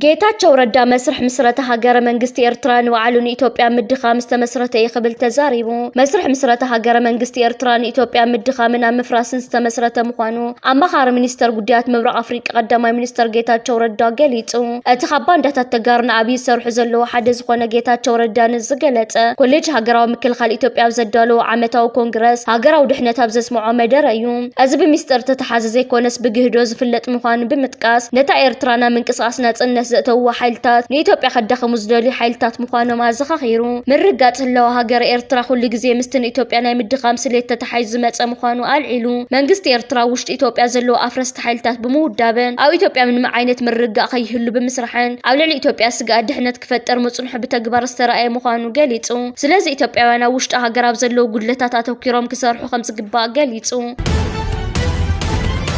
ጌታቸው ረዳ መስርሕ ምስረተ ሃገረ መንግስቲ ኤርትራ ንባዕሉ ንኢትዮጵያ ምድኻም ዝተመስረተ እዩ ክብል ተዛሪቡ። መስርሕ ምስረተ ሃገረ መንግስቲ ኤርትራ ንኢትዮጵያ ምድኻምን ኣብ ምፍራስን ዝተመስረተ ምዃኑ ኣማኻሪ ሚኒስተር ጉዳያት ምብራቕ ኣፍሪቃ ቀዳማይ ሚኒስተር ጌታቸው ረዳ ገሊጹ። እቲ ካብ ባንዳታት ተጋሩ ንኣብይ ዝሰርሑ ዘለዉ ሓደ ዝኾነ ጌታቸው ረዳ ንዝገለፀ ኮሌጅ ሃገራዊ ምክልኻል ኢትዮጵያ ኣብ ዘዳለዎ ዓመታዊ ኮንግረስ ሃገራዊ ድሕነት ኣብ ዘስምዖ መደረ እዩ። እዚ ብሚስጥር እተተሓዘ ዘይኮነስ ብግህዶ ዝፍለጥ ምዃኑ ብምጥቃስ ነታ ኤርትራ ናብ ምንቅስቓስ ናፅነት ዘእተውዋ ሓይልታት ንኢትዮጵያ ከዳኽሙ ዝደልዩ ሓይልታት ምዃኖም ኣዘኻኺሩ። ምርግጋፅ ህላወ ሃገረ ኤርትራ ኩሉ ግዜ ምስቲ ንኢትዮጵያ ናይ ምድኻም ስሌት ተተሓሒዙ ዝመፀ ምዃኑ ኣልዒሉ መንግስቲ ኤርትራ ኣብ ውሽጢ ኢትዮጵያ ዘለዉ ኣፍረስቲ ተሓለቕቲ ሓይልታት ብምውዳብን ኣብ ኢትዮጵያ ምንም ዓይነት ምርግጋእ ከይህሉ ብምስራሕን ኣብ ልዕሊ ኢትዮጵያ ስግኣት ድሕነት ክፈጥር ምጽንሑ ብተግባር ዝተራእየ ምዃኑ ገሊጹ። ስለዚ ኢትዮጵያውያን ኣብ ውሽጢ ሃገር ኣብ ዘለዉ ጉድለታት ኣተኲሮም ክሰርሑ ከምዝግባእ ገሊጹ።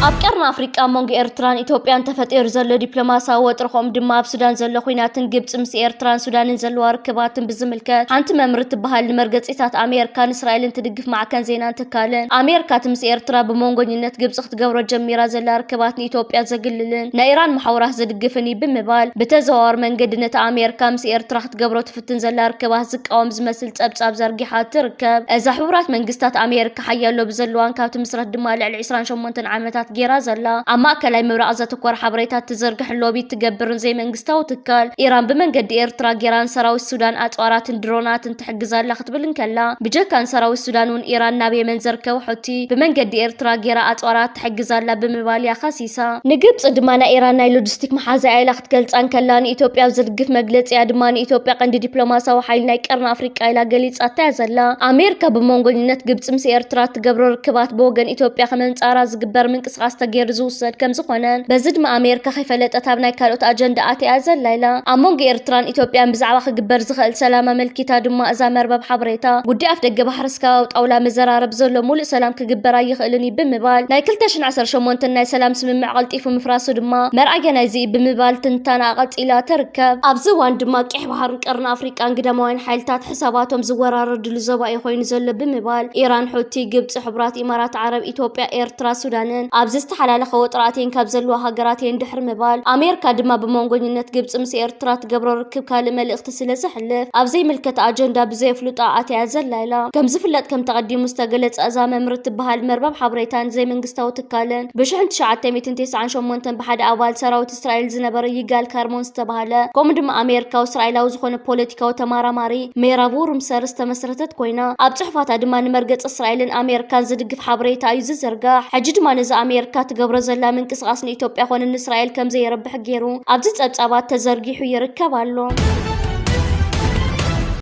ኣብ ቀርኒ ኣፍሪቃ ኣብ መንጎ ኤርትራን ኢትዮጵያን ተፈጢሩ ዘሎ ዲፕሎማስያዊ ወጥሪ ከምኡ ድማ ኣብ ሱዳን ዘሎ ኲናትን ግብጺ ምስ ኤርትራን ሱዳንን ዘለዋ ርክባትን ብዝምልከት ሓንቲ መምር እትበሃል ንመርገጺታት ኣሜርካን እስራኤልን ትድግፍ ማዕከን ዜናን ትካልን ኣሜርካ እቲ ምስ ኤርትራ ብመንጎኝነት ግብጺ ክትገብሮ ጀሚራ ዘላ ርክባት ንኢትዮጵያ ዘግልልን ናይ ኢራን መሓውራት ዝድግፍን እዩ ብምባል ብተዘዋዋሪ መንገዲ ነቲ ኣሜርካ ምስ ኤርትራ ክትገብሮ ትፍትን ዘላ ርክባት ዝቃወም ዝመስል ጸብጻብ ዘርጊሓ ትርከብ። እዛ ሕቡራት መንግስታት ኣሜርካ ሓያል ሎቢ ዘለዋን ካብ ትምስረት ድማ ልዕሊ ዕስራን ሸሞንተን ዓመታት ጌራ ዘላ ኣብ ማእከላይ ምብራቕ ዘተኮረ ሓበሬታ ትዝርግሕን ሎቢ ትገብርን ዘይመንግስታዊ ትካል ኢራን ብመንገዲ ኤርትራ ጌራን ሰራዊት ሱዳን ኣጽዋራትን ድሮናትን ትሕግዝ ኣላ ክትብል እንከላ፣ ብጀካ ንሰራዊት ሱዳን'ውን ኢራን ናብ የመን ዝርከቡ ሑቲ ብመንገዲ ኤርትራ ገይራ ኣጽዋራት ትሕግዝ ኣላ ብምባል'ያ ከሲሳ። ንግብጺ ድማ ናይ ኢራን ናይ ሎጂስቲክ መሓዛ'ያ ኢላ ክትገልጻ እንከላ፣ ንኢትዮጵያ ኣብ ዝድግፍ መግለጺ'ያ ድማ ንኢትዮጵያ ቀንዲ ዲፕሎማስያዊ ሓይሊ ናይ ቀርኒ ኣፍሪቃ ኢላ ገሊጻታ'ያ ዘላ። ኣሜሪካ ብመንጎኝነት ግብጺ ምስ ኤርትራ እትገብሮ ርክባት ብወገን ኢትዮጵያ ከመንጻራ ዝግበር ምንቅስቓስ፣ ምንቅስቃስ ተገይሩ ዝውሰድ ከምዝኾነን በዚ ድማ ኣሜርካ ከይፈለጠት ኣብ ናይ ካልኦት ኣጀንዳ ኣትያ ዘላ ኢላ። ኣብ መንጎ ኤርትራን ኢትዮጵያን ብዛዕባ ክግበር ዝኸእል ሰላም ኣመልኪታ ድማ እዛ መርበብ ሓበሬታ ጉዳይ ኣፍደገ ባሕርስ ካብ ኣብ ጣውላ መዘራረብ ዘሎ ሙሉእ ሰላም ክግበር ኣይኽእልን እዩ ብምባል ናይ ክልተ ሽሕን ዓሰርተ ሸሞንተን ናይ ሰላም ስምምዕ ቀልጢፉ ምፍራሱ ድማ መርኣያ ናይዚ እዩ ብምባል ትንታነኣ ቀጺላ ትርከብ። ኣብዚ እዋን ድማ ቄሕ ባሕርን ቀርኒ ኣፍሪቃን ግዳማውያን ሓይልታት ሰባቶም ዝወራረድሉ ዞባ እዩ ኮይኑ ዘሎ ብምባል ኢራን፣ ሑቲ፣ ግብፂ፣ ሕቡራት ኢማራት ዓረብ፣ ኢትዮጵያ፣ ኤርትራ፣ ሱዳንን ኣብዚ ዝተሓላለኸ ወጥሪ ኣትየን ካብ ዘለዋ ሃገራት እየን ድሕሪ ምባል ኣሜርካ ድማ ብመንጎኝነት ግብፂ ምስ ኤርትራ ትገብሮ ርክብ ካልእ መልእኽቲ ስለ ዘሕልፍ ኣብ ዘይምልከታ ኣጀንዳ ብዘየፍልጦኣ ኣትያያ ዘላ ኢላ። ከምዝፍለጥ ከምቲ ኣቐዲሙ ዝተገለፀ እዛ መምር እትበሃል መርበብ ሓበሬታን ዘይመንግስታዊ ትካልን ብሽሕን ትሽዓተ ሚእትን ቴስዓን ሸሞንተን ብሓደ ኣባል ሰራዊት እስራኤል ዝነበረ ይጋል ካርሞን ዝተባህለ ከምኡ ድማ ኣሜሪካዊ እስራኤላዊ ዝኾነ ፖለቲካዊ ተማራማሪ ሜራቡ ሩምሰር ዝተመስረተት ኮይና ኣብ ጽሑፋታ ድማ ንመርገጽ እስራኤልን ኣሜሪካን ዝድግፍ ሓበሬታ እዩ ዝዝርጋሕ። ሕጂ ድማ ነዚ ኣሜሪካ ትገብሮ ዘላ ምንቅስቓስ ንኢትዮጵያ ኮነ ንእስራኤል ከምዘየርብሕ ገይሩ ኣብዚ ጸብጻባት ተዘርጊሑ ይርከብ ኣሎ።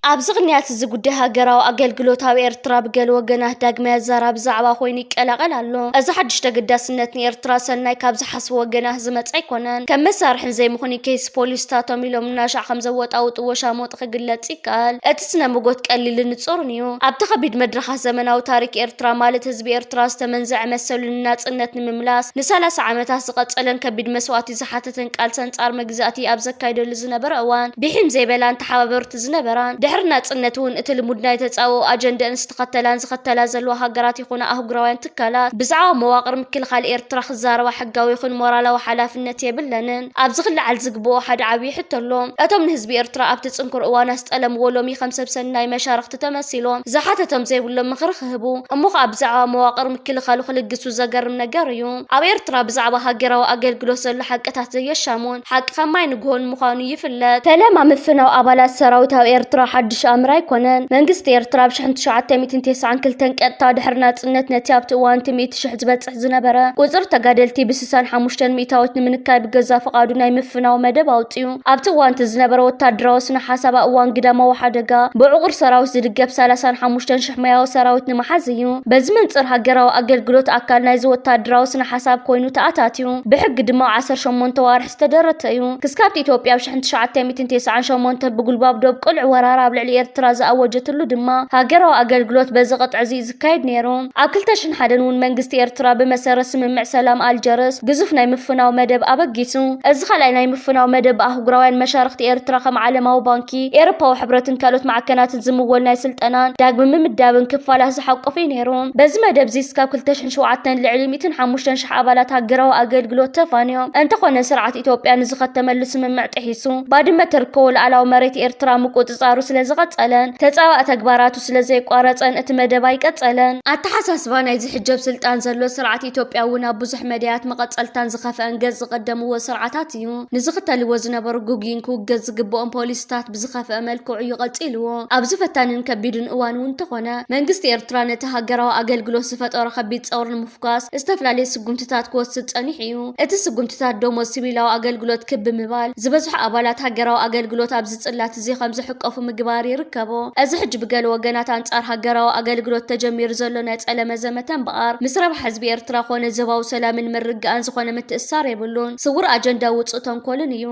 ኣብዚ ቅንያት እዚ ጉዳይ ሃገራዊ ኣገልግሎት ኣብ ኤርትራ ብገለ ወገናት ዳግማይ ኣዛራቢ ዛዕባ ኮይኑ ይቀላቐል ኣሎ። እዚ ሓድሽ ተገዳስነት ንኤርትራ ሰናይ ካብ ዝሓ ፖሊስ ወገና ዝመጸ ኣይኮነን። ከም መሳርሕን ዘይምኽኑይ ኬስ ፖሊስታቶም ኢሎም እናሻዕ ከም ዘወጣውጡ ወሻሞጥ ክግለጽ ይከኣል። እቲ ስነ-ሞጎት ቀሊልን ንጹርን እዩ። ኣብቲ ከቢድ መድረኻት ዘመናዊ ታሪክ ኤርትራ ማለት ህዝቢ ኤርትራ ዝተመንዘዐ መሰሉ ንናጽነት ንምምላስ ንሳላሳ ዓመታት ዝቐጸለን ከቢድ መስዋእቲ ዝሓተተን ቃልሲ ኣንጻር መግዛእቲ ኣብ ዘካይደሉ ዝነበረ እዋን ብሒም ዘይበላን ተሓባበርቲ ዝነበራን ድሕሪ ናጽነትውን እቲ ልሙድ ናይ ተጻብኦ ኣጀንደእን ዝተኸተላን ዝኸተላ ዘለዋ ሃገራት ይኹና ኣህጉራውያን ትካላት ብዛዕባ መዋቕር ምክልኻል ኤርትራ ክዛረባ ሕጋዊ ይኹን ሞራላዊ ሓላፍነት የብለንን። ኣብዚ ክለዓል ዝግበኦ ሓደ ዓብዪ ሕቶ ኣሎ። እቶም ንህዝቢ ኤርትራ ኣብቲ ጽንኩር እዋን ኣስጠለምዎ ሎሚ ከም ሰብ ሰናይ መሻርኽቲ ተመሲሎም ዝሓተቶም ዘይብሎም ምኽሪ ክህቡ እሞ ኸኣ ብዛዕባ መዋቕር ምክልኻሉ ክልግሱ ዘገርም ነገር እዩ። ኣብ ኤርትራ ብዛዕባ ሃገራዊ ኣገልግሎት ዘሎ ሓቅታት ዘየሻሙ ሓቂ ከም ማይ ንግሆን ምዃኑ ይፍለጥ። ፈለማ ምፍናው ኣባላት ሰራዊት ኣብ ኤርትራ ሓድሽ ኣምር ኣይኮነን። መንግስቲ ኤርትራ ብ ሽሕን ትሽዓተ ሚእትን ቴስዓን ክልተን ቀጥታ ድሕሪ ናጽነት ነቲ ኣብቲ እዋን'ቲ ሚእቲ ሽሕ ዝበጽሕ ዝነበረ ቁጽሪ ተጋደልቲ ብ ስሳን ሓሙሽተን ሚእታዎት ንምንካይ ብገዛእ ፍቓዱ ናይ ምፍናው መደብ ኣውጺኡ። ኣብቲ እዋን'ቲ ዝነበረ ወተሃደራዊ ስነ-ሓሳብ ኣብ እዋን ግዳማዊ ሓደጋ ብዕቑር ሰራዊት ዝድገፍ ሰላሳን ሓሙሽተን ሽሕ ሞያዊ ሰራዊት ንምሓዝ እዩ። በዚ መንጽር ሃገራዊ ኣገልግሎት ኣካል ናይዚ ወተሃደራዊ ስነ-ሓሳብ ኮይኑ ተኣታትዩ። እዩ። ብሕጊ ድማ ኣብ ዓሰርተ ሸሞንተ ኣዋርሕ ዝተደረተ እዩ። ክስካብቲ ኢትዮጵያ ኣብ ሽሕን ትሽዓተ ሚእትን ቴስዓን ሸሞንተን ብጉልባብ ዶብ ቅሉዕ ወራራ ኣብ ልዕሊ ኤርትራ ዝኣወጀትሉ ድማ ሃገራዊ ኣገልግሎት በዚ ቅጥዕዚ እዩ ዝካየድ ነይሩ። ኣብ ክልተ ሽሕን ሓደን እውን መንግስቲ ኤርትራ ብመሰረት ስምምዕ ሰላም ኣልጀርስ ግዙፍ ናይ ምፍናው መደብ ኣበጊሱ። እዚ ካልኣይ ናይ ምፍናው መደብ ብኣህጉራውያን መሻርኽቲ ኤርትራ ከም ዓለማዊ ባንኪ፣ ኤሮፓዊ ሕብረትን ካልኦት ማዕከናትን ዝምወል ናይ ስልጠናን ዳግመ ምምዳብን ክፋላት ዝሓቆፈ እዩ ነይሩ። በዚ መደብዚ እስካብ ክልተ ሽሕን ሚእትን ሸውዓተን ልዕሊ ሚእትን ሓሙሽተን ሽሕ ኣባላት ሃገራዊ ኣገልግሎት ተፋንዮም። እንተኾነ ስርዓት ኢትዮጵያ ንዝኸተመሉ ስምምዕ ጥሒሱ ባድመ እትርከቦ ሉኣላዊ መሬት ኤርትራ ምቁጽጻሩ ስለዝቐጸለን ተጻባኢ ተግባራቱ ስለዘየቋረጸን እቲ መደብ ኣይቀጸለን። ኣተሓሳስባ ናይዚ ሕጂ ኣብ ስልጣን ዘሎ ስርዓት ኢትዮጵያ እውን ኣብ ብዙሕ መዳያት መቐጸልታን ዝኸፈኣን ገጽ ዝቐደምዎ ስርዓታት እዩ። ንዝኽተልዎ ዝነበሩ ግጉይን ክውገዝ ዝግበኦን ፖሊሲታት፣ ብዝኸፍኣ መልክዑ እዩ ቀጺልዎ። ኣብዚ ፈታኒን ከቢድን እዋን እውን እንተኾነ፣ መንግስቲ ኤርትራ ነቲ ሃገራዊ ኣገልግሎት ዝፈጠሮ ከቢድ ጸቕሪ ንምፍኳስ ዝተፈላለየ ስጉምትታት ክወስድ ጸኒሑ እዩ። እቲ ስጉምትታት ደሞዝ ሲቪላዊ ኣገልግሎት ክብ ብምባል፣ ዝበዝሑ ኣባላት ሃገራዊ ኣገልግሎት ኣብዚ ጽላት እዚ ከም ዝሕቀፉ ምግባር ይርከቦ። እዚ ሕጂ ብገለ ወገናት ኣንጻር ሃገራዊ ኣገልግሎት ተጀሚሩ ዘሎ ናይ ጸለመ ዘመተ እምበኣር፣ ምስ ረብሓ ህዝቢ ኤርትራ ኮነ ዞባዊ ሰላምን ምርግጋእን ዝኾነ ምትእስሳር የብሉን። ስውር ኣጀንዳ ውጹእ ተንኮልን እዩ።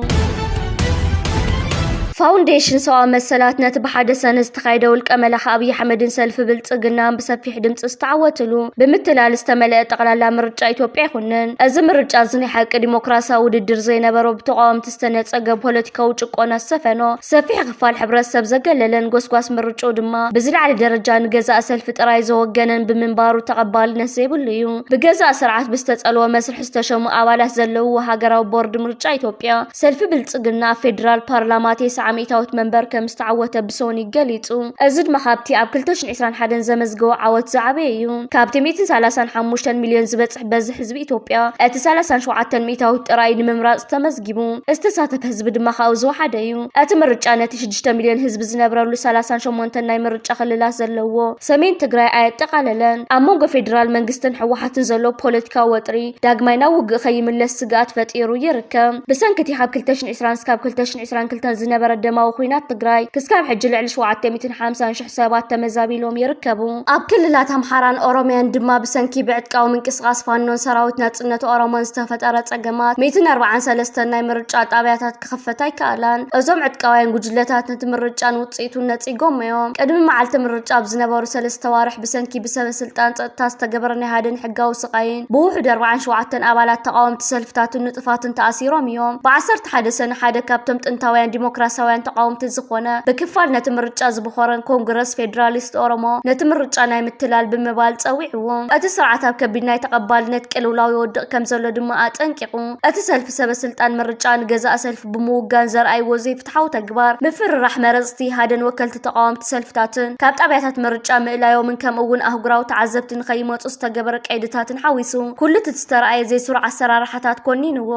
ፋውንዴሽን ሰብኣዊ መሰላት ነቲ ብሓደ ሰነ ዝተኻየደ ውልቀ መላኺ ኣብዪ ኣሕመድን ሰልፊ ብልፅግናን ብሰፊሕ ድምፂ ዝተዓወትሉ ብምትላል ዝተመለአ ጠቕላላ ምርጫ ኢትዮጵያ ይኹንን እዚ ምርጫ እዚ ናይ ሓቂ ዲሞክራሲያዊ ውድድር ዘይነበሮ ብተቃወምቲ ዝተነፀገ ፖለቲካዊ ጭቆና ዝሰፈኖ ሰፊሕ ክፋል ሕብረተሰብ ዘገለለን ጎስጓስ ምርጭኡ ድማ ብዝለዓለ ደረጃ ንገዛእ ሰልፊ ጥራይ ዘወገነን ብምንባሩ ተቐባልነት ዘይብሉ እዩ ብገዛእ ስርዓት ብዝተፀልወ መስርሕ ዝተሸሙ ኣባላት ዘለውዎ ሃገራዊ ቦርድ ምርጫ ኢትዮጵያ፣ ሰልፊ ብልጽግና ኣብ ፌደራል ፓርላማ ቴስዓ ሚእታዊት መንበር ከም ዝተዓወተ ብሶኑይ ገሊጹ። እዚ ድማ ካብቲ ኣብ ክልተ ሽሕን ዕስራን ሓደን ዘመዝገቦ ዓወት ዝዓበየ እዩ። ካብቲ ሚእትን ሰላሳን ሓሙሽተን ሚልዮን ዝበጽሕ በዝሒ ህዝቢ ኢትዮጵያ፣ እቲ ሰላሳን ሸውዓተን ሚእታዊት ጥራይ እዩ ንምምራጽ ተመዝጊቡ። ዝተሳተፈ ህዝቢ ድማ ካብኡ ዝወሓደ እዩ። እቲ ምርጫ ነቲ ሽዱሽተ። ሽዱሽተ ሚልዮን ህዝቢ ዝነብረሉ ሰላሳን ሸሞንተን ናይ ምርጫ ክልላት ዘለዎ ሰሜን ትግራይ ኣየጠቓለለን። ኣብ መንጎ ፌዴራል መንግስትን ህወሓትን ዘሎ ፖለቲካዊ ወጥሪ ዳግማይ ናብ ውግእ ከይምለስ ስግኣት ፈጢሩ ይርከብ። ብሰንኪ እቲ ካብ ክልተ ሽሕን ዕስራን እስካብ ክልተ ሽሕን ዕስራን ክልተን ዝነበረ ደማዊ ኹናት ትግራይ ክስካብ ሕጂ ልዕሊ ሸውዓተ ሚእትን ሓምሳን ሽሕ ሰባት ተመዛቢሎም ይርከቡ። ኣብ ክልላት ኣምሓራን ኦሮሚያን ድማ ብሰንኪ ብዕጥቃዊ ምንቅስቓስ ፋኖን ሰራዊት ናጽነት ኦሮሞን ዝተፈጠረ ጸገማት ሚእትን ኣርብዓን ሰለስተን ናይ ምርጫ ጣብያታት ክኽፈት ኣይከኣላን። እዞም ዕጥቃውያን ጉጅለታት ነቲ ምርጫን ውጽኢቱን ነጺጎሞ'ዮም። ቅድሚ መዓልቲ ምርጫ ኣብ ዝነበሩ ሰለስተ ኣዋርሕ ብሰንኪ ብሰበስልጣን ጸጥታ ዝተገበረ ናይ ሃደን ሕጋዊ ስቓይን ብውሑዱ ኣርብዓን ሸውዓተን ኣባላት ተቓወምቲ ሰልፍታትን ንጡፋትን ተኣሲሮም'ዮም። ብ ዓሰርተ ሓደ ሰነ ሓደ ካብቶም ጥንታውያን ዲሞክራስያውያን ተቓወምቲ ዝኾነ ብክፋል ነቲ ምርጫ ዝቦኸረን ኮንግረስ ፌደራሊስት ኦሮሞ ነቲ ምርጫ ናይ ምትላል ብምባል ጸዊዕዎ። እቲ ስርዓት ኣብ ከቢድ ናይ ተቐባልነት ቅልውላው ይወድቕ ከምዘሎ ድማ ኣጠንቂቑ። እቲ ሰልፊ ሰበ ስልጣን ምርጫ ንገዛኢ ሰልፊ ብምውጋን ዘርኣይዎ ዘይፍትሓዊ ተግባር ምፍርራሕ መረፅቲ ኢሃደን ወከልቲ ተቓወምቲ ሰልፍታትን ካብ ጣብያታት ምርጫ ምእላዮምን ከምኡ እውን ኣህጉራዊ ተዓዘብቲ ንከይመፁ ዝተገበረ ቀይድታትን ሓዊሱ ኩሉ እቲ ዝተርኣየ ዘይስሩዕ ኣሰራርሓታት ኮኒንዎ።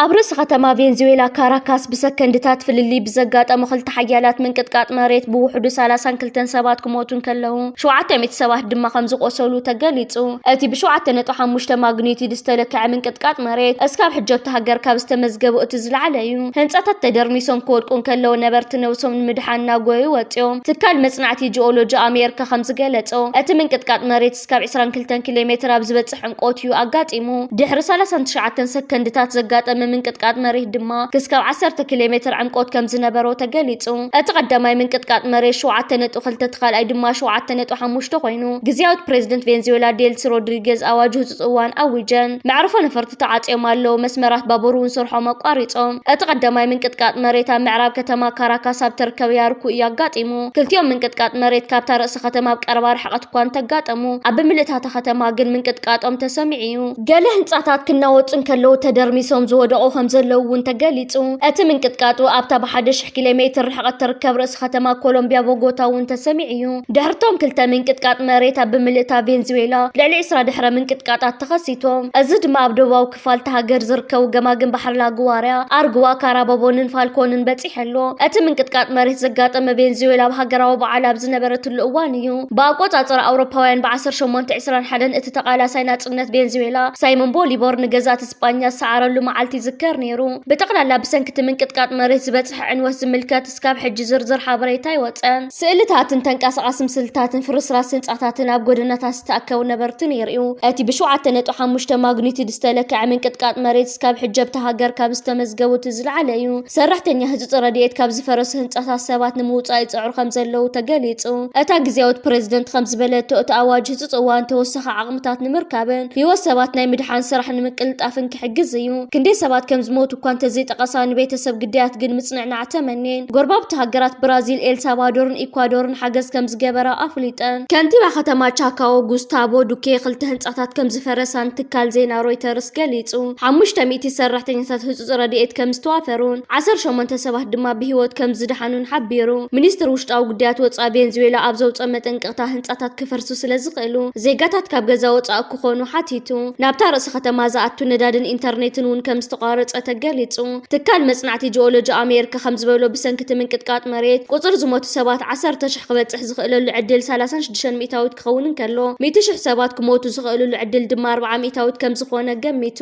ኣብ ርእሲ ከተማ ቬንዙዌላ ካራካስ ብሰከንድታት ፍልልይ ብዘጋጠመ ክልተ ሓያላት ምንቅጥቃጥ መሬት ብውሕዱ ሰላሳን ክልተን ሰባት ክሞቱ እንከለዉ ሸውዓተ ሚእቲ ሰባት ድማ ከም ዝቖሰሉ ተገሊጹ። እቲ ብሸውዓተ ነጥቢ ሓሙሽተ ማግኒቲዩድ ዝተለክዐ ምንቅጥቃጥ መሬት እስካብ ሕጂ ኣብታ ሃገር ካብ ዝተመዝገቡ እቲ ዝለዓለ'ዩ። ህንጻታት ተደርሚሶም ክወድቁ እንከለዉ ነበርቲ ነብሶም ንምድሓን እናጎየዩ ወጺኦም። ትካል መጽናዕቲ ጂኦሎጂ ኣሜርካ ከም ዝገለጾ እቲ ምንቅጥቃጥ መሬት፣ ክሳብ ዕስራን ክልተን ኪሎ ሜተር ኣብ ዝበጽሕ ዕምቆት እዩ ኣጋጢሙ። ድሕሪ ሰላሳን ትሽዓተን ሰከንድታት ዘጋጠመ ምንቅጥቃጥ መሬት ድማ ክስካብ ዓሰርተ ኪሎ ሜተር ዕምቆት ከም ዝነበሮ ተገሊጹ። እቲ ቀዳማይ ምንቅጥቃጥ መሬት ሸውዓተ ነጥቢ ክልተ እቲ ካልኣይ ድማ ሸውዓተ ነጥቢ ሓሙሽተ ኮይኑ፣ ግዝያዊት ፕረዚደንት ቬንዙዌላ ዴልሲ ሮድሪጌዝ ኣዋጅ ህጹጽ እዋን ኣዊጀን። መዕርፎ ነፈርቲ ባቡራት ተዓጽዮም ኣለዉ፣ መስመራት ባቡር እውን ስርሖም ኣቋሪጾም። እቲ ቀዳማይ ምንቅጥቃጥ መሬት ኣብ ምዕራብ ከተማ ካራካስ ኣብ እትርከብ ያርኩ እዩ ኣጋጢሙ። ክልቲኦም ምንቅጥቃጥ መሬት ካብታ ርእሲ ከተማ ኣብ ቀረባ ርሕቀት እኳ እንተ ኣጋጠሙ፣ ኣብ ብምልእታ እታ ከተማ ግን ምንቅጥቃጦም ተሰሚዑ እዩ። ገለ ህንጻታት ክናወጹ እንከለዉ ተደርሚሶም ዝወደቑ ከም ዘለዉ እውን ተገሊጹ። እቲ ምንቅጥቃጡ ኣብታ ብሓደ ሽሕ ኪሎ ሜትር ርሕቀት እትርከብ ርእሲ ከተማ ኮሎምብያ ቦጎታ እውን ተሰሚዑ እዩ። ድሕሪ እቶም ክልተ ምንቅጥቃጥ መሬት ኣብ ብምልእታ ቬንዝዌላ ልዕሊ ዕስራ ድሕረ ምንቅጥቃጣት ተኸሲቱ። እዚ ድማ ኣብ ደቡባዊ ክፋል እታ ሃገር ዝርከቡ ገማግም ባሕሪ ላጉዋርያ፣ ኣርጉዋ፣ ካራባቦንን ፋልኮንን በጺሑ ኣሎ። እቲ ምንቅጥቃጥ መሬት ዘጋጠመ ቬንዙዌላ ኣብ ሃገራዊ በዓል ኣብ ዝነበረትሉ እዋን እዩ። ብኣቆጻጽራ ኣውሮፓውያን ብ ዓሰርተ ሸሞንተ ዕስራን ሓደን እቲ ተቓላሳይ ናጽነት ቬንዙዌላ ሳይሞን ቦሊቮር ንገዛእቲ ስጳኛ ዝሰዓረሉ መዓልቲ ይዝከር ነይሩ። ብጠቕላላ ብሰንኪ እቲ ምንቅጥቃጥ መሬት ዝበጽሐ ዕንወት ዝምልከት እስካብ ሕጂ ዝርዝር ሓበሬታ ኣይወጸን። ስእልታትን ተንቀሳቓሲ ምስልታትን ፍርስራስ ህንጻታትን ኣብ ጎደናታት ዝተኣከቡ ነበርትን የርእዩ። እቲ ብሸውዓተ ነጥቢ ሓሙሽተ ማግኒቱድ ዝተለክዐ ምንቅጥቃጥ መሬት እስካብ ሕጂ ኣብታ ሃገር ካብ ዝተመዝገቡ እቲ ዝለዓለ እዩ። ሰራሕተኛ ህጹጽ ረድኤት ካብ ዝፈረሱ ህንጻታት ሰባት ንምውጻእ ይጽዕሩ ከምዘለዉ ተገሊጹ። እታ ግዝያዊት ፕረዚደንት ከምዝበለቶ፣ እቲ ኣዋጅ ህጹጽ እዋን ተወሳኺ ዓቕምታት ንምርካብን ህይወት ሰባት ናይ ምድሓን ስራሕ ንምቅልጣፍን ክሕግዝ እዩ። ክንደይ ሰባት ከምዝሞቱ፣ እኳ እንተዘይጠቐሳ ንቤተሰብ ግዳያት ግን ምጽንዕናዕ ተመንየን። ጎረባብቲ ሃገራት ብራዚል፣ ኤልሳልቫዶርን ኢኳዶርን ሓገዝ ከምዝገበራ ኣፍሊጠን። ከንቲባ ከተማ ቻካዎ ጉስታቮ ዱኬ ክልተ ህንጻታት ከምዝፈረሳን ትካል ዜና ሮይተርስ ገሊጹ። ሓሙሽተ ሚእቲ ሰራሕተኛታት ህጹጽ ረድኤት ከምዝተዋፈሩን ዓሰርተ ሸሞንተ ሰባት ድማ ብህይወት ከምዝደሓኑን ሓቢሩ። ሚኒስትሪ ውሽጣዊ ጉዳያት ወጻኢ ቬንዙዌላ ኣብ ዘውጽኦ መጠንቀቕታ ህንጻታት ክፈርሱ ስለዝኽእሉ ዜጋታት ካብ ገዛ ወጻኢ ክኾኑ ሓቲቱ። ናብታ ርእሲ ከተማ ዝኣቱ ነዳድን ኢንተርኔትን እውን ከምዝተቋረፀ ተገሊፁ። ትካል መፅናዕቲ ጂኦሎጂ ኣሜርካ ከምዝበሎ ብሰንኪ እቲ ምንቅጥቃጥ መሬት ቁፅሪ ዝሞቱ ሰባት ዓሰርተ ሽሕ ክበፅሕ ዝኽእለሉ ዕድል ሰላሳን ሽዱሽተን ሚእታዊት ክኸውን እንከሎ ሚእቲ ሽሕ ሰባት ክሞቱ ዝኽእልሉ ዕድል ድማ ኣርብዓ ሚእታዊት ከምዝኾነ ገሚቱ።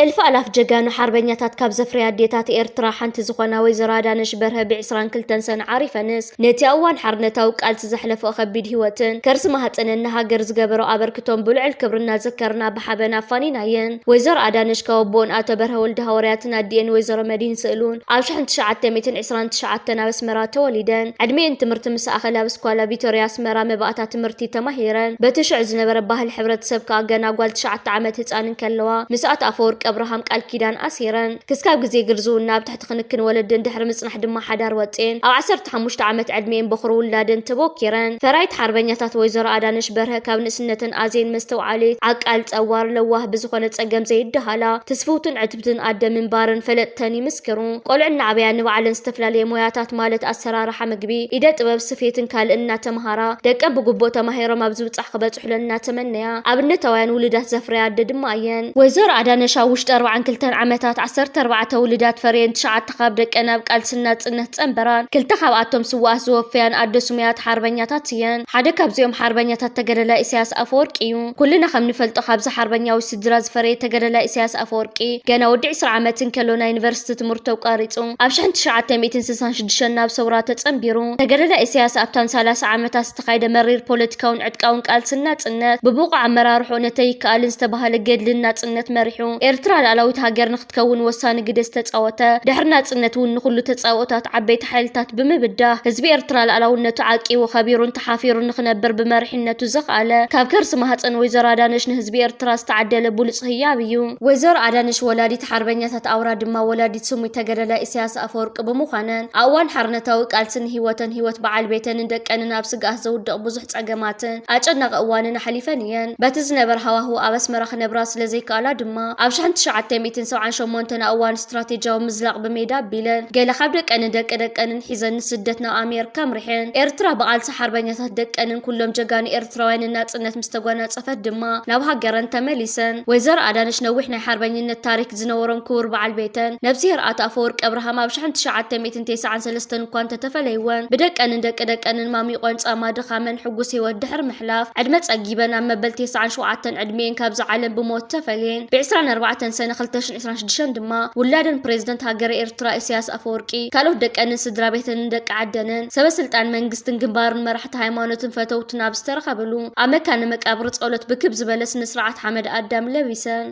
እልፍ ኣላፍ ጀጋኑ ሓርበኛታት ካብ ዘፍረያ ኣዴታት ኤርትራ ሓንቲ ዝኾና ወይዘሮ ኣዳነሽ በርሀ ብ 22 ሰነ ዓሪፈንስ። ነቲ ኣብ እዋን ሓርነታዊ ቃልሲ ዘሕለፎ ከቢድ ሂወትን ከርሲ ማህጸንን ንሃገር ዝገበሮ ኣበርክቶን ብልዑል ክብሪ እናዘከርና ብሓበን ኣፋኒናየን። ወይዘሮ ኣዳነሽ ካብ ኣቦኡን ኣቶ በርሀ ወልደሃወርያትን ኣዲኤን ወይዘሮ መድሂን ስእሉን ኣብ ሽሕን ትሽዓተ ሚእትን ዕስራን ትሽዓተን ኣብ ኣስመራ ተወሊደን። ዕድሚኤን ትምህርቲ ምስ ኣኸለ ኣብ ስኳላ ቪቶርያ ኣስመራ መባእታ ትምህርቲ ተማሂረን። በቲ ሽዑ ዝነበረ ባህሊ ሕብረተሰብ ከኣ ገና ጓል ትሽዓተ ዓመት ህጻን እንከለዋ ምስ ኣቶ ኣፈወርቂ ኣብርሃም ቃል ኪዳን ኣሲረን ክስካብ ግዜ ግርዝውና ኣብ ትሕቲ ኣብቲ ክንክን ወለደን ድሕሪ ምጽናሕ ድማ ሓዳር ወጺኤን። ኣብ ዓሰርተ ሓሙሽተ ዓመት ዕድሚኤን በዅሪ ውላደን ተቦኪረን። ፈራይት ሓርበኛታት ወይዘሮ ኣዳነሽ በርሀ ካብ ንእስነተን ኣዜን መስተውዓሊት፣ ዓቃል፣ ጸዋር፣ ለዋህ፣ ብዝኾነ ጸገም ዘይደሃላ፣ ትስፍውትን ዕትብትን ኣደ ምንባረን ፈለጥተን ይምስክሩ። ቆልዑ እናዕበያ ንባዕለን ዝተፈላለየ ሞያታት ማለት ኣሰራርሓ ምግቢ፣ ኢደ ጥበብ፣ ስፌትን ካልእን እናተመሃራ ደቀን ብግቡእ ተማሂሮም ኣብ ዝብጻሕ ክበጽሑ ክፍለን እናተመነያ ኣብነታውያን ውሉዳት ዘፍረያ ኣደ ድማ እየን። ወይዘሮ ኣዳነሽ ኣብ ውሽጢ ኣርብዓን ክልተን ዓመታት ዓሰርተ ኣርባዕተ ውሉዳት ፈርየን ትሽዓተ ካብ ደቀን ኣብ ቃልሲ ናጽነት ጸንበራን። ክልተ ካብኣቶም ስዉኣት ዝወፈያን ኣደ ስሙያት ሓርበኛታት እየን። ሓደ ካብዚኦም ሓርበኛታት ተገደላይ ኢሳያስ ኣፈወርቂ እዩ። ኩልና ከም ንፈልጦ ካብዚ ሓርበኛዊ ስድራ ዝፈረየ ተገደላይ ኢሳያስ ኣፈወርቂ ገና ወዲ ዕስራ ዓመት እንከሎ ናይ ዩኒቨርሲቲ ትምህርቱ ኣቋሪጹ ኣብ ሽሕን ትሽዓተ ሚእትን ስሳን ሽዱሽተን ናብ ሰውራ ተጸንቢሩ። ተገደላይ ኢሳያስ ኣብተን ሰላሳ ዓመታት ዝተኻይደ መሪር ፖለቲካውን ዕጥቃውን ቃልስን ናጽነት፣ ብብቑዕ ኣመራርሕኡ ነቲ ኣይከኣልን ዝተባህለ ገድልን ናጽነት መሪሑ፣ ኤርትራ ልኣላዊት ሃገር ንክትከውን ወሳኒ ግደ ዝተጻወተ፣ ድሕሪ ናጽነት እውን ንኹሉ ተጻብኦታት ዓበይቲ ሓይልታት ብምብዳህ፣ ህዝቢ ኤርትራ ልኣላውነቱ ዓቂቡ፣ ከቢሩን ተሓፊሩን ንክነብር ብመሪሕነቱ ዘኽኣለ፣ ካብ ከርሲ ማህጸን ወይዘሮ ኣዳነሽ ንህዝቢ ኤርትራ ዝተዓደለ ብሉጽ ህያብ እዩ። ወይዘሮ ኣዳነሽ ወላዲት ሓርበኛታት ኣውራ ድማ ወላዲት፣ ስሙይ ተገደላይ ኢሳያስ ኣፈወርቂ ብምዃነን ኣብ እዋን ሓርነታዊ ቃልሲ ንህይወተን ህይወት በዓል ቤተንን ደቀንን ኣብ ስግኣት ዘውድቕ ብዙሕ ጸገማትን ኣጨናቒ እዋንን ኣሕሊፈን እየን። በቲ ዝነበረ ሃዋህው ኣብ ኣስመራ ክነብራ ስለ ዘይከኣላ ድማ ኣብ ሽሕን ትሽዓተ ሚእትን ሰብዓን ሸሞንተን ኣብ እዋን ስትራቴጂያዊ ምዝላቕ ብሜዳ ኣቢለን ገለ ካብ ደቀንን ደቂ ደቀንን ሒዘን ንስደት ናብ ኣሜርካ ኣምሪሐን። ኤርትራ ብቓልሲ ሓርበኛታት ደቀንን ኩሎም ጀጋኑ ኤርትራውያን ናጽነት ምስ ተጓናጸፈት ድማ ናብ ሃገረን ተመሊሰን። ወይዘሮ ኣዳነች ነዊሕ ናይ ሓርበኝነት ታሪክ ዝነበሮም ክቡር በዓል ቤተን ነብስሄር ኣቶ ኣፈወርቂ ኣብርሃም ኣብ ሽሕን ትሽዓተ ሚእትን ቴስዓን ሰለስተን እኳ እንተተፈለይወን ብደቀንን ደቂ ደቀንን ማሚቆን ጻማ ድኻመን ሕጉስ ህይወት ድሕሪ ምሕላፍ ዕድመ ጸጊበን ኣብ መበል ቴስዓን ሸውዓተን ዕድሚኤን ካብዛ ዓለም ብሞት ተፈልየን። ብዕስራን ኣርባዕተን ሰነ ክልተ ሽሕን ዕስራን ሽዱሽተን ድማ ውላደን ፕሬዝደንት ሃገረ ኤርትራ ኢሰያስ ኣፈወርቂ ካልኦት ደቀንን ስድራቤተንን ደቂ ዓደንን ሰበ ስልጣን መንግስትን ግንባርን መራሕቲ መራሕቲ ሃይማኖትን ፈተውትን ኣብ ዝተረኸብሉ ኣብ መካነ መቃብር ጸሎት ብክብ ዝበለ ስነስርዓት ሓመድ ኣዳም ለቢሰን።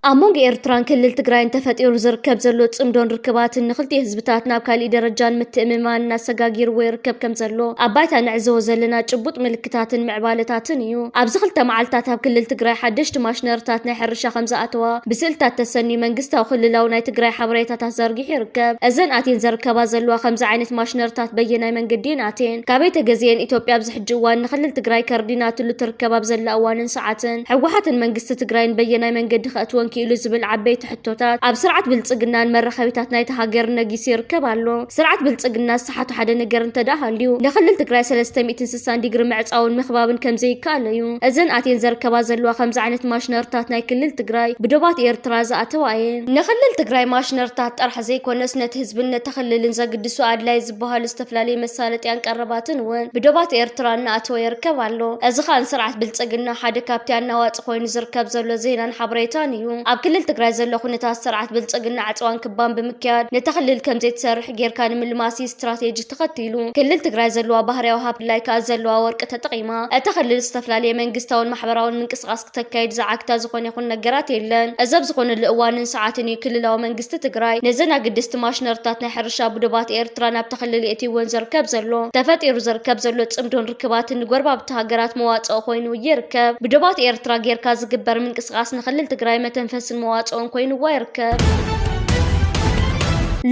ኣብ መንጎ ኤርትራን ክልል ትግራይን ተፈጢሩ ዝርከብ ዘሎ ጽምዶን ርክባትን ንክልቲኡ ህዝብታት ናብ ካሊእ ደረጃን ምትእምማን እናሰጋጊርዎ ይርከብ ከም ዘሎ ኣብ ባይታ ንዕዘቦ ዘለና ጭቡጥ ምልክታትን ምዕባለታትን እዩ። ኣብዚ ክልተ መዓልትታት ኣብ ክልል ትግራይ ሓደሽቲ ማሽነርታት ናይ ሕርሻ ከም ዝኣተዋ ብስእልታት ተሰንዩ መንግስታዊ ክልላዊ ናይ ትግራይ ሓበሬታታት ዘርጊ ይርከብ። እዘን ኣትየን ዘርከባ ዘለዋ ከምዚ ዓይነት ማሽነርታት በየናይ መንገዲ እየን ኣትየን ካበይ ተገዚኤን ኢትዮጵያ ኣብዚ ሕጂ እዋን ንክልል ትግራይ ከርዲናትሉ ትርከብ ኣብ ዘላ እዋንን ሰዓትን ህወሓትን መንግስቲ ትግራይን በየናይ መንገዲ ከእትወን ኪኢሉ ዝብል ዓበይቲ ሕቶታት ኣብ ስርዓት ብልፅግናን መራኸቢታት ናይታ ሃገርን ነጊሱ ይርከብ ኣሎ ስርዓት ብልፅግና ትሓቱ ሓደ ነገር እንተድኣ ሃልዩ ንክልል ትግራይ ሰለስተ ሚእትን ስሳን ዲግሪ ምዕፃውን ምኽባብን ከምዘይከኣል እዩ። እዘን ኣትየን ዘርከባ ዘለዋ ከምዚ ዓይነት ማሽነርታት ናይ ክልል ትግራይ ብዶባት ኤርትራ ዝኣተዋ እየን። ንክልል ትግራይ ማሽነርታት ጥራሕ ዘይኮነስ ነቲ ህዝብን ነቲ ክልልን ዘግድሱ ኣድላይ ዝበሃሉ ዝተፈላለዩ መሳለጥያን ቀረባትን እውን ብዶባት ኤርትራ እናኣተወ ይርከብ ኣሎ። እዚ ከኣ ንስርዓት ብልፅግና ሓደ ካብቲ ኣናዋፂ ኮይኑ ዝርከብ ዘሎ ዜናን ሓበሬታን እዩ። ኣብ ክልል ትግራይ ዘሎ ኩነታት ስርዓት ብልፅግና ዕፅዋን ክባን ብምክያድ ነቲ ክልል ከምዘይትሰርሕ ጌርካ ንምልማስ እዩ ስትራቴጂ ተኸቲሉ። ክልል ትግራይ ዘለዋ ባህርያዊ ሃብቲ ብፍላይ ከኣ ዘለዋ ወርቂ ተጠቒማ እታ ክልል ዝተፈላለየ መንግስታውን ማሕበራውን ምንቅስቓስ ክተካይድ ዝዓግታ ዝኾነ ይኹን ነገራት የለን። እዚ ኣብ ዝኾነሉ እዋንን ሰዓትን እዩ ክልላዊ መንግስቲ ትግራይ ነዘን ኣገደስቲ ማሽነሪታት ናይ ሕርሻ ብዶባት ኤርትራ ናብታ ክልል የእትይወን ዝርከብ ዘሎ። ተፈጢሩ ዝርከብ ዘሎ ጽምዶን ርክባትን ንጎረባብቲ ሃገራት መዋጽኦ ኮይኑ ይርከብ። ብዶባት ኤርትራ ጌርካ ዝግበር ምንቅስቓስ ንክልል ትግራይ መተንፈስን መዋጽኦን ኮይንዋ ይርከብ።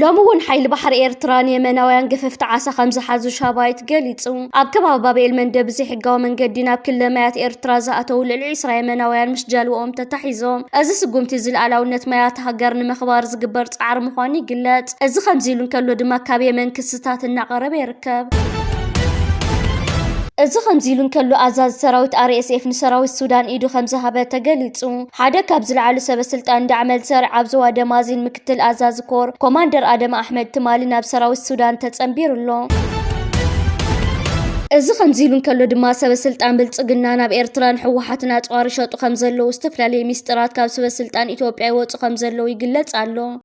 ሎሚ እውን ሓይሊ ባሕሪ ኤርትራ ንየመናውያን ገፈፍቲ ዓሳ ከም ዝሓዙ ሻባይት ገሊጹ። ኣብ ከባቢ ባብኤል መንደብ ብዘይሕጋዊ መንገዲ ናብ ክልለ ማያት ኤርትራ ዝኣተው ልዕሊ ዒስራ የመናውያን ምስ ጃልባኦም ተታሒዞም። እዚ ስጉምቲ እዚ ልኣላውነት ማያት ሃገር ንምኽባር ዝግበር ጻዕሪ ምዃኑ ይግለጽ። እዚ ከምዚ ኢሉ እንከሎ ድማ ካብ የመን ክስታት እናቐረበ ይርከብ። እዚ ከምዚ ኢሉ እንከሎ ኣዛዚ ሰራዊት RSF ንሰራዊት ሱዳን ኢዱ ከም ዝሃበ ተገሊጹ። ሓደ ካብ ዝለዓሉ ሰበ ስልጣን ዳዕ መልሰር ኣብ ዞባ ደማዚን ምክትል ኣዛዚ ኮር ኮማንደር ኣደም ኣሕመድ ትማሊ ናብ ሰራዊት ሱዳን ተጸንቢሩ ኣሎ። እዚ ከምዚ ኢሉ እንከሎ ድማ ሰበ ስልጣን ብልጽግና ናብ ኤርትራ ንሕወሓትን ኣጽዋር ይሸጡ ከም ዘለዉ ዝተፈላለዩ ሚስጥራት ካብ ሰበ ስልጣን ኢትዮጵያ ይወጹ ከም ዘለዉ ይግለጽ ኣሎ።